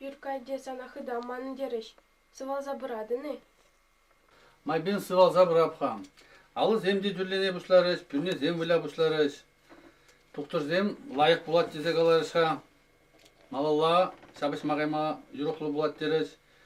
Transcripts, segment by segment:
Юркка те сана хытаман терӗҫ. Сывалса пыратӑн-и? Майпен сывалса пырап-ха. Алӑсем те тӳрлене пуҫларӗҫ, пӳрнесем выля пуҫларӗҫ. Тухтӑрсем лайӑх пулать тесе каларӗҫ-ха. Малалла ҫапӑҫма кайма юрӑхлӑ пулать терӗҫ.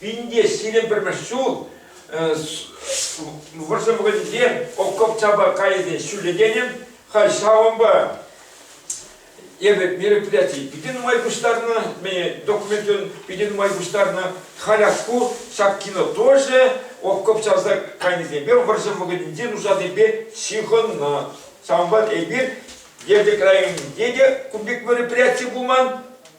Пинте сирӗн пӗрмӗш ҫул вӑрҫӑ вӑхӑтӗнче окопчапа кайсен ҫӳллекенӗм халь ҫавӑнпа эпӗ мероприятие питӗ нумай пуҫтарнӑ, документӑн питӗ нумай пуҫтарнӑ. Халь ку ҫак кино тоже окоп чавса кайнисемпе вӑрҫӑ вӑхӑтӗнче нушасемпе ҫыхӑннӑ. Ҫавӑнпа эпир Етӗрек районӗнче те кун пек мероприяти пулман,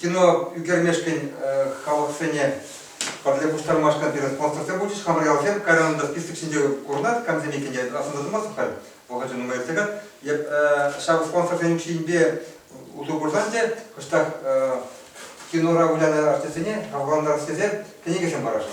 кино ӳкермешкӗн халӑхсене пӗрле пуҫтармашкӑн пирӗн спонсорсем пулчӗҫ. Хамӑр ялсем кайран та список ҫинче курӑнать, камсем иккенне асӑнса тӑмастӑп халь. Вӑхӑчӗ нумай иртсе каять. Ҫав спонсорсен укҫинпе усӑ курсан те кӑштах кинора вылянӑ артистсене хавхалантарас тесе кӗнекесем парасшӑн.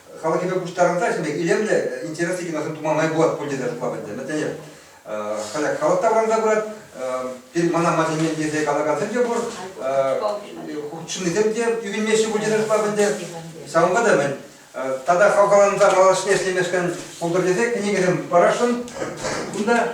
халӑхӗпе пуҫтарӑнса ӗҫлеме илемлӗ, интереслӗ киносем тума май пулать пуль тесе шутлап ӗнтӗ. Мӗнлтен халӗ халӑх таврӑнса пырать. Пирӗн мана майсене итлесе калакансем те пур. Хутшӑннисем те ӳкӗнмеҫҫӗ пуль тесе шутлап ӗнтӗ. Ҫавӑнпа та мӗн тата хавхаланса малашне ӗҫлемешкӗн пултӑр тесе кӗнекесем парасшӑн. Кунта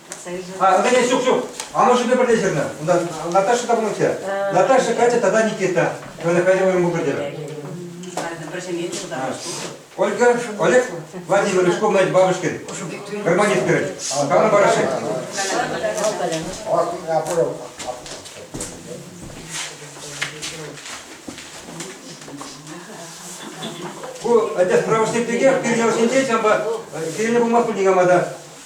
Антоня, ҫук, ҫук. Амӑшӗпе пӗрле ҫырнӑ. Унта Наташа та пулнӑ те. Э, Наташа качча тата Никита. Оля качча вырӑн пултӑр терӗ. Ольга, Олег Владимирович, комнате бабушкин. Гармонист говорит. Камна бараши. Ку, отец правошник деке, кирне осенче, чамба, кирне булмас пульдигамада.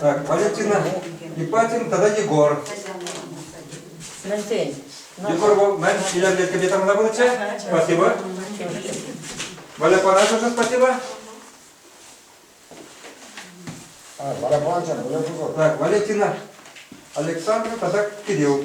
Так, Валентина, Ипатин тата Егор. Мӗнсен? Егор вӑл мӗн илӗрлетнипе танланатчӗ. Спасибо. Валя парашӑн спасибо. Так, Валентина тата Кирилл.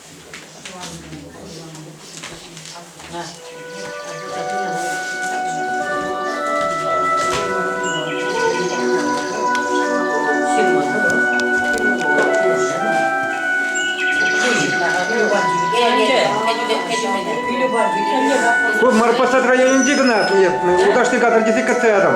Ку Марпосад районӗнчи кӑна туятнӑ. Уташти катар тесе кӗтсе ятӑм.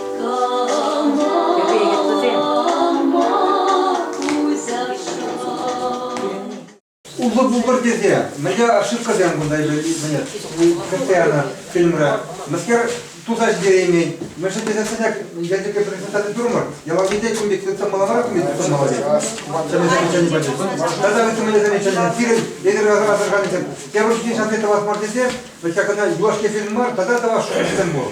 Улпӑ пултӑр тесе мӗнле ошибкӑсем кунта мӗнле кӗтсе янӑ фильмре мӗскер туса ҫитереймен мӗншӗн тесе сӗнек елчӗке презентаци турмӑр ялавите кун пек тытса малавар кун пек тытса малавет чӗнесем чӗни пачӗ тата вӗсемесем чӗнесем сирӗн эдер асӑрханисем тепӗр ҫинчен шанти тӑвас мар тесе вӗт ҫакна юлашки фильм мар тата тӑвас шутсем пур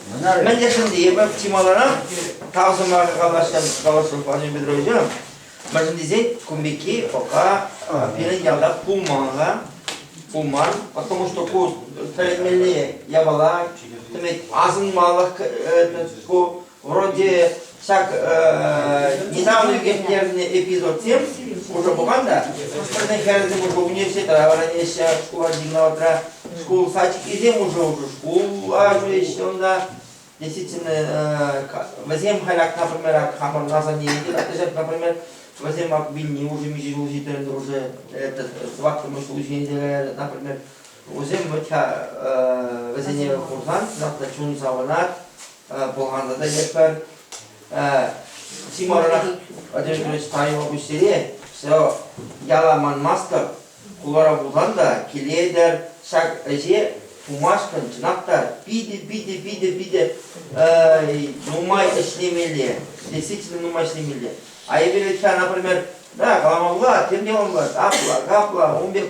Мӗнлешӗн те эпӗ чи маларах тав сӑмахӗ калаҫтӑм Калашов Владимир Петровича. Мӗншӗн тесен кун пекки пока пирӗн ялта пулман-ха. Пулман, потому что ку тӗлӗнмелли япала, тӗмет асӑнмалӑх ку вроде Ҫак недавно ирттернӗ эпизодсем уже пулган та, пӗрне хӗрсем уже университетра вӗренеҫҫӗ, шкула гимназра, шкул сачкисем уже уже шкула ҫӳреҫҫӗ унта. Действительно, вӗсем халь, например, хамӑр названияне тытаҫҫӗ, например, вӗсем вилни уже миҫе ҫул ҫитрен уже это сываткӑмӑш ҫул ҫинче, например, вӗсем вӗт вӗсене хурсан чун савӑнать, пӑлханнӑ та ятпар. Симорӑрах Одежда Ильич Таева пуҫсене все яла манмастӑп, кулара пулсан та килетӗр. Ҫак ӗҫе тумашкӑн чӑнах та питӗ питӗ питӗ питӗ нумай ӗҫлемелле, действительно нумай ӗҫлемелле. А Эверетька, например, да каламалла, тем те каламалла, капла, капла, ун пек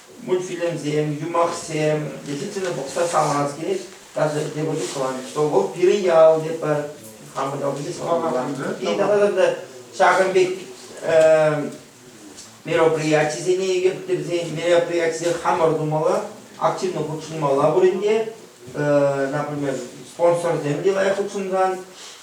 мультфильмсем, юмахсем, действительно пӑхса саманас килет, даже тепӗр чух тӑван, что вӑл пирӗн ял тетпӗр, хамӑр ялти саманас. И давай та ҫакӑн пек мероприятисене вӗсен мероприятисене хамӑр тумалла, активно хутшӑнмалла пулин те, например, спонсорсем те лайӑх хутшӑнсан,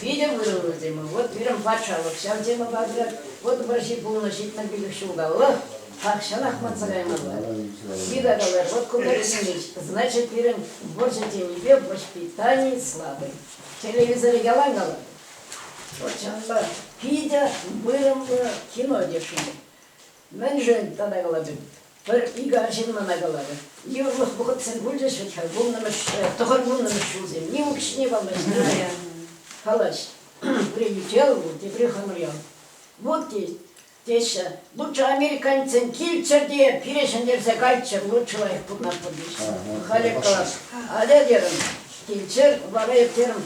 Питӗ вырӑнлӑ тема. Вот пирӗн патшалӑх ҫав тема патӑ. Вот вӑрҫи пулнӑ ҫитмӗл пилӗк ҫулталлах тахҫанах матса каймалла. Йытакалар, вот кунта ӗҫлет. Значит, пирӗн вӑрҫӑ темипе воспитани слабый. Телевизор ялан калать. Вӑрҫанпа питӗ вырӑнлӑ кино йышӑнать. Мӗншӗн тата калатӑн? Пӗр-икӗ арҫын мана каларӗ, йывӑрлӑх вӑхӑтсем пулчӗҫ вӗт-ха, вуннӑмӗш, тӑхӑр вуннӑмӗш ҫулсем ним укҫине паллаҫнӑ. Калаҫ, Бренюкел вӑл, тепри хамӑръял. Вӑт тет, теҫҫӗ, луччӑ американецсем килччӗр те пире ҫӗнтерсе кайччӑр, луччӑ лайӑх пурӑнатпӑр теҫҫӗ. Халӗ калас, атя терӗм, килччӗр, вара ирттерӗм.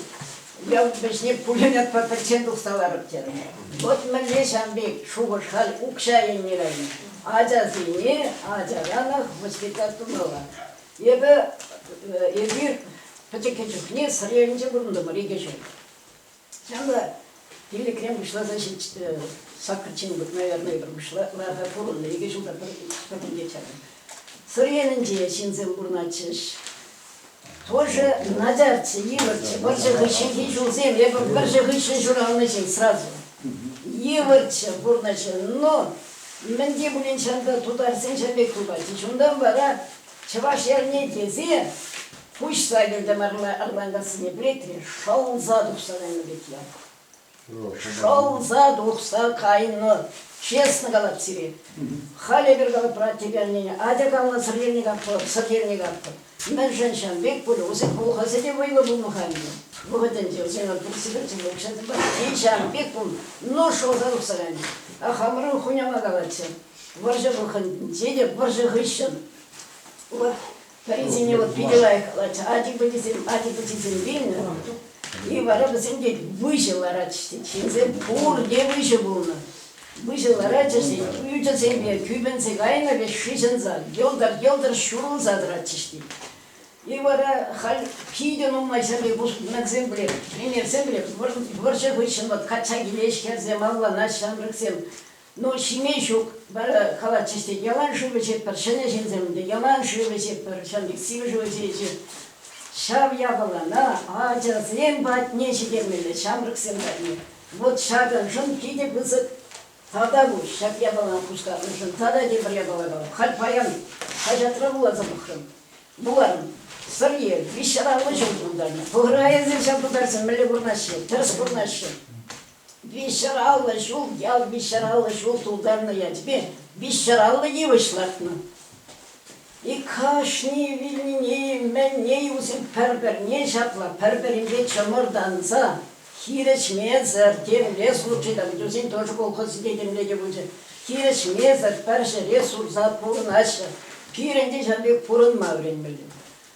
Ял вӗҫне пулин ятпа пӗччен тухса ларӑп терӗм. Вӑт мӗнле ҫам пек шухӑш халь укҫа илни район ачасене ачаранах воспитать тумалла. Эпӗ эпир пӗчӗккӗ чухне Сӑрьелӗнче пурӑнтӑмӑр икӗ ҫул. Ҫавӑнпа пиллӗкрен пуҫласа саккӑрччен наверное ларса пурӑннӑ икӗ ҫул та пӗр кун пек чарнӑ. Сӑрьелӗнче ҫынсем пурӑнатчӗҫ. Пӑшӑ, начарччӗ, йывӑрччӗ. Вӑрҫӑ хыҫҫӑнхи ҫулсем эпӗ вӑрҫӑ хыҫҫӑн ҫуралнӑ ҫын сразу. Йывӑрччӗ пурнӑҫӗ. Но мӗн те пулин ҫанта тутарсенчен пек тупать-и. Чунтан вара Чӑваш эрне тесе пуҫ лагерьте ларма ырланкассине пӗлетре, шӑлса тухса кайнӑ пек ял. Шӑлса тухса кайнӑ, честно калап сире. Халь эпир калӑпра тепе аннене атя калнӑ сӗртерни катпӑр, сӗртерни катпӑр. Мӗншӗн ҫав пек пулӗ? Вӗсен пулӑхасӗ те вӑйлӑ пулнӑ-ха ӗнтӗ. Вӑхӑтӗнче вӗсен отпусксем ҫӗнсе укҫасемпе тин ҫавӑн пек пулнӑ. Ну, шӑлса тухса кайнӑ. А хамӑрӑн хуняма калатчӗ. Вӑрҫӑ вӑхӑтӗнче те вӑрҫӑ хыҫҫӑн Хӑйсене вӑл питӗ лайӑхлатчӗ. Ачи-пӑчисем ачи-пӑчисем вилнӗ. И вара вӗсем те выҫӑ ларатчӗҫ тет. Ҫынсем пурте выҫӑ пулнӑ. Выҫӑ ларатчӗҫ тет, ӳчӗсемпе кӳпӗнсе кайнӑ вӗҫ шыҫӑнса йӑлтӑр-йӑлтӑр ҫурӑлса тӑратчӗҫ тет. И вара халь питӗ нумай ҫав пек пустунаксем пӗлеп, ӗнерсем пӗлеп, вӑрҫӑ хыҫҫӑн вӑл качча киле ӗҫкерсе малланать ҫамрӑксем. Ну, ҫиме ҫук. Вара калатчӗҫ те, ялан шыв ӗҫетпӗр, ҫӗнӗ ҫынсем те ялан шыв ӗҫетпӗр, ҫавӑн пек сивӗ шыв ӗҫеҫҫӗ. Ҫав япалана ачасем патне ҫитермелле, ҫамрӑксем патне. Вӑт ҫакӑншӑн питӗ пысӑк тата пуҫ, ҫак япалана пуҫтарнӑшӑн тата тепӗр япала пар. Халь паян хаҫатра вуласа пӑхрӑм. Вуларӑм, Сӑрьел виҫҫӗ аллӑ ҫул тултарнӑ. Пӑхӑр-ха эсир ҫав тутарсем мӗнле курӑнаҫҫӗ, тӗрӗс курӑнаҫҫӗ. Виҫҫӗраллӑ ҫул ял виҫҫӗраллӑ ҫул тултарнӑ ячӗпе виҫҫӗраллӑ йывӑҫ лартнӑ. Иккӗшне вилнине мӗнне усем пӗр-пӗрне ҫапла пӗр-пӗринпе чӑмӑртанса хирӗҫмесӗр темле служита пӗтерсен тоже колхозӗ те темле те пулчӗ. Хирӗҫмесӗр пӗр ҫӗре сурса пурӑнаҫҫӗ. Пирӗн те ҫав пек пурӑнма вӗренмелле.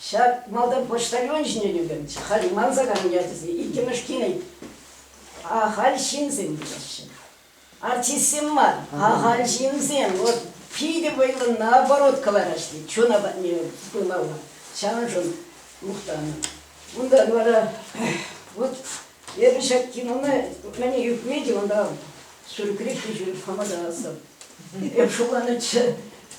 Ҫав малтан почтальон ҫине ӳкӗнчӗ, халь манса кайнӑ ячӗсене иккӗмӗш килет. Ахаль ҫынсем теҫҫӗ. Артистсем мар, ахаль ҫынсем. Вӑл питӗ вӑйлӑ наоборот кӑларас тет, чуна патне пымалла. Ҫавӑншӑн мухтанӑ. Унтан вара вот эпӗ ҫак кинона мӗне ӳкме те унта сюрприз те ҫӳреп хама тӑвасӑп. Эп шутланӑччӗ.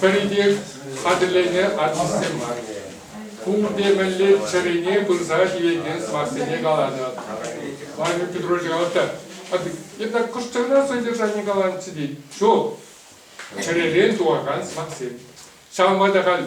Пӗри хатӗрленӗ артистсем мар. Пурте мӗнле чӗрене пырса тивекен сӑмахсене каланӑ. Владимир Петрович калатта, а это куштана содержание каланӑччӗ тет. Ҫук, чӗререн тухакан сӑмахсем. Ҫавӑнпа та халь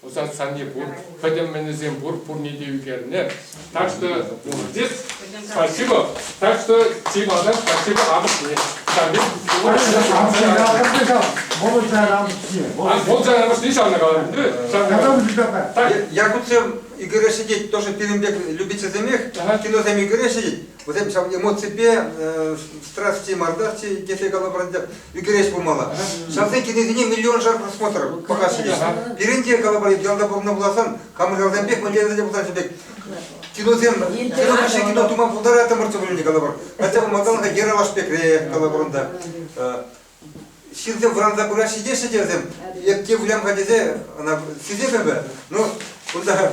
Усадсанни пур, пӗтӗм-мӗнӗсем пур, пурне те ӳкернӗ. Так что здесь спасибо, так что Тимана спасибо амӑшне. Молодая амӑшне. Молодая амӑшне ҫавна калатӑн. Я гуцем Игоря сидеть тоже пирӗн пек любительсемех, киносем Игоря сидеть. Вӗсем ҫав эмоципе страсти мардасти тесе калӑпӑр. ӳкерес пулмалла. Ҫавсен кӗнесене миллионшар просмотр пӑхассине. Пирӗн те калӑпӑр, ялта пурӑннӑ пуласан, хамӑр ялсем пек, мӑнтирсем те пулсан пек, киносем, кино хыҫҫӑн кино тума пултаратӑмӑрччӗ пулин те калӑпӑр. Хотя бы малтанлӑха Ералаш пекре, калӑпӑр унта. Ҫынсем вӑранса пыраҫҫӗ теҫҫӗ те вӗсем. Эп те вылям-ха тесе ӑна сисетӗп эпӗ. Ну, кунта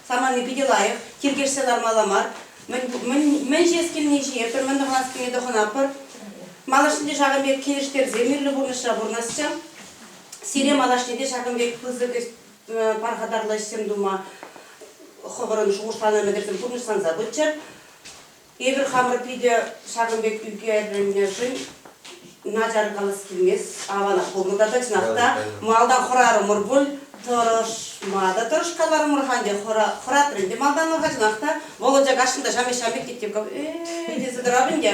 самани питӗ лайӑх, тиркешсе лармалла мар. Мӗн ҫиес килни ҫине пӗр мӗн тӑхӑнас килни тӑхӑнатпӑр. Малашне те ҫакӑн пек килӗштерсе мирлӗ пурнӑҫра пурӑнасчӗ. Сире малашне те ҫакӑн пек пысӑк э, пархатарлӑ ӗҫсем тума хӑвӑрӑн шухӑшланӑ ӗмӗтӗрсем пурнӑҫланса пыччӑр. Эпир хамӑр питӗ ҫакӑн пек ӳкерӗннӗшӗн начар калас килмест. Аванах пулнӑ та тӑчнах та. Малтан хӑрарӑмӑр пуль, тӑрӑшма та тӑрӑшкаларӑмӑр-ха ӗнтӗ, хӑратрӗ ӗнтӗ малтанлӑха чӑнах та. Володя каҫҫӑн та ҫамӗк-ҫамӗк тет, типкав, э тесе тӑрав ӗнтӗ.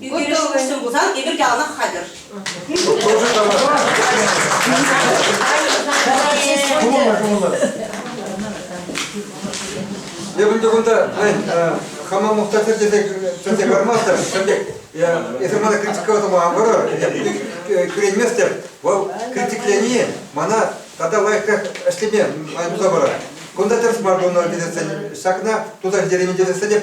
Ӳкерӗшсем пулсан эпир те алӑк хатӗр. Кумӑлла, кумӑлла. Эпӗн кунта, хама мухтахир тесе пӗлсе кармастӑр, пӗлтек. Эсир мана критиковать тума ан парӑр, кӳренместӗп. Вӑл критиклени мана тата лайӑхрах ӗҫлеме май туса парать. Кунта тӗрӗс мар пулнӑ тесен ҫакна туса ҫитереймӗн тесен те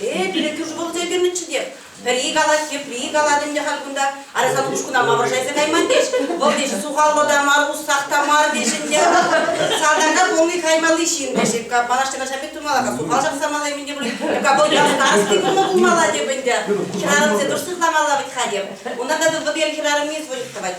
Э, Пилӗккӗш укҫа кӳрнӗччӗ те. Пӗри калать, тепри калать ӗнтӗ халь кунта. Ара, сан ушкӑна мавӑршайса кайман теш. Вӑл теш сухаллӑ та мар, уссах та мар теш ӗнтӗ. Салтака полный хаймалли ҫын теш. Эка палаш тена ҫапет тумала, ка сухал ҫапсамала ӗмӗнте пуль. Эка вӑл ялтарский кунна пулмала теп ӗнтӗ. Хӗрарӑмсем тӑш сыхламалла вӗт ха теп. Унта та вӑл хӗрарӑм низ выльӑх тӑвать.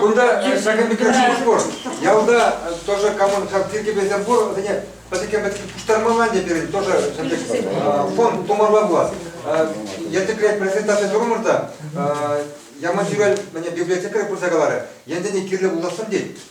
Кунта ҫакӑн пек красивый кошт. Ялта тоже кому тиркепесем пур, вӗсене пӗтӗкен пуҫтармалла не пирӗн тоже фонд тумарла пулас. Ертеклет презентаци турумӑрта Яман Чӳрел библиотекарь пырса каларӗ, ентене кирлӗ пуласӑн тет.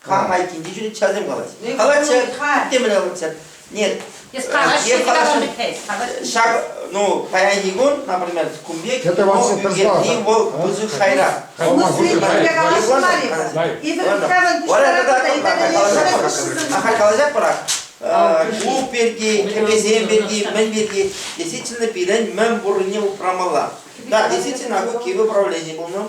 Кам айккинче жүрет, ҫавсем калаҫ. Калаччӑр, темле калаччӑр. Нет. Ҫак, ну, паянхи кун, например, кун пек, вӑл ӳкерни вӑл пысӑк хайра. Оны сирек пӗрле калаҫмар-и? Эпир ҫавӑн Ахаль калаҫать бірақ. Клуб пирки, кӗпесем пирки, мӗн пирки, действительно пирӗн мӗн пуррине упрамалла. Да, действительно, ку киве управление булнӑ.